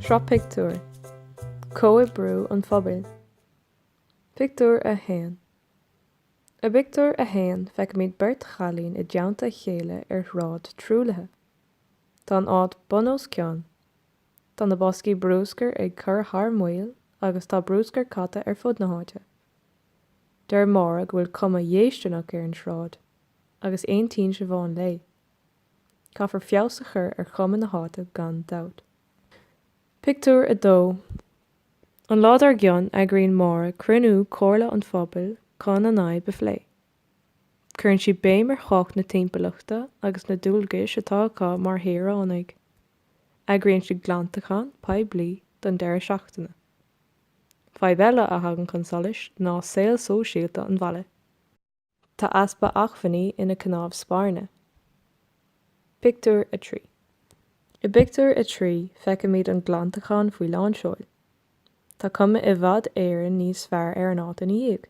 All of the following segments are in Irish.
Sraith Pictiúr, Comhoibriú an Phobail, Pictiúr 1 I bpictiúr a haon feicimid beirt chailín i dteannta a chéile ar shráid truaillithe. Tá an áit bun os cionn. Tá na boscaí brúscair ag cur thar maoil agus tá brúscar caite ar fud na háite. Deir Máire go bhfuil cuma dhéistineach ar an sráid, agus aontaíonn Siobhán léi. Caithfear feabhas a chur ar chuma na háite gan dabht. Pictiúr 2 An lá dár gcionn eagraíonn Máire cruinniú comhairle an phobail chun an fhadhb a phlé. Cuireann sí béim ar thábhacht na timpeallachta agus na dualgais atá acu mar shaoránaigh. Eagraíonn siad glantachán poiblí don deireadh seachtaine. Fadhb eile a thagann chun solais ná saol sóisialta an bhaile. Tá easpa acmhainní ina cnámh spairne. Pictiúr 3 I bpictiúr a trí feicimid an glantachán faoi lánseoil. Tá cuma i bhfad Éireann níos fearr ar an áit ina dhiaidh.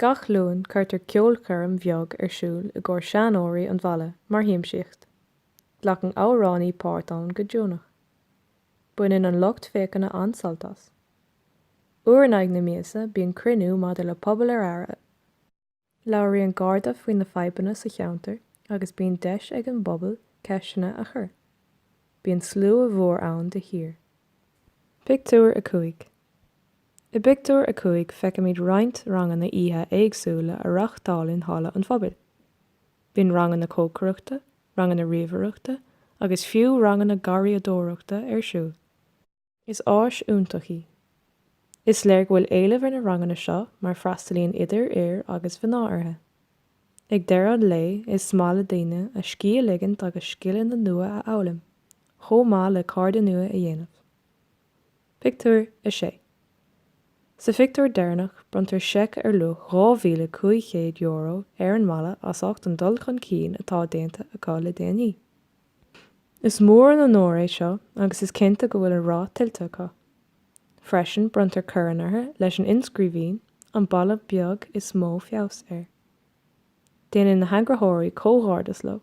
Gach Luan cuirtear ceolchoirm bheag ar siúl i gcomhair seanóirí an bhaile mar shiamsaíocht. Glacann amhránaí páirt ann go deonach. Baineann an lucht féachana an-sult as. Uair in aghaidh na míosa bíonn cruinniú maidir le Pobal ar Aire. Labhraíonn Garda faoi na fadhbanna sa cheantar agus bíonn deis ag an bpobal ceisteanna a chur. Bíonn slua mhór ann de shíor. Pictiúr 5 I bpictiúr a cúig feicimid roinnt ranganna oíche éagsúla á reáchtáil in Halla an Phobail. Bíonn ranganna cócaireachta, ranganna ríomhaireachta agus fiú ranganna garraíodóireachta ar siúl. Is áis iontach í. Is léir go bhfuil éileamh ar na ranganna seo mar freastalaíonn idir fhir agus mhná orthu. Ag deireadh an lae is maith le daoine a scíth a ligint agus scileanna nua a fhoghlaim, chomh maith le cairde nua a dhéanamh. Pictiúr 6 Sa phictiúr deireanach bronntar seic ar luach €2,500 ar an mbaile as ucht an dul chun cinn atá déanta acu le déanaí. Is mór an onóir é seo agus is cinnte go bhfuil an rath tuillte acu. Freisin bronntar corn orthu leis an inscríbhinn 'An baile beag is mó feabhas air'. Déanann na heagraitheoirí comhghairdeas leo.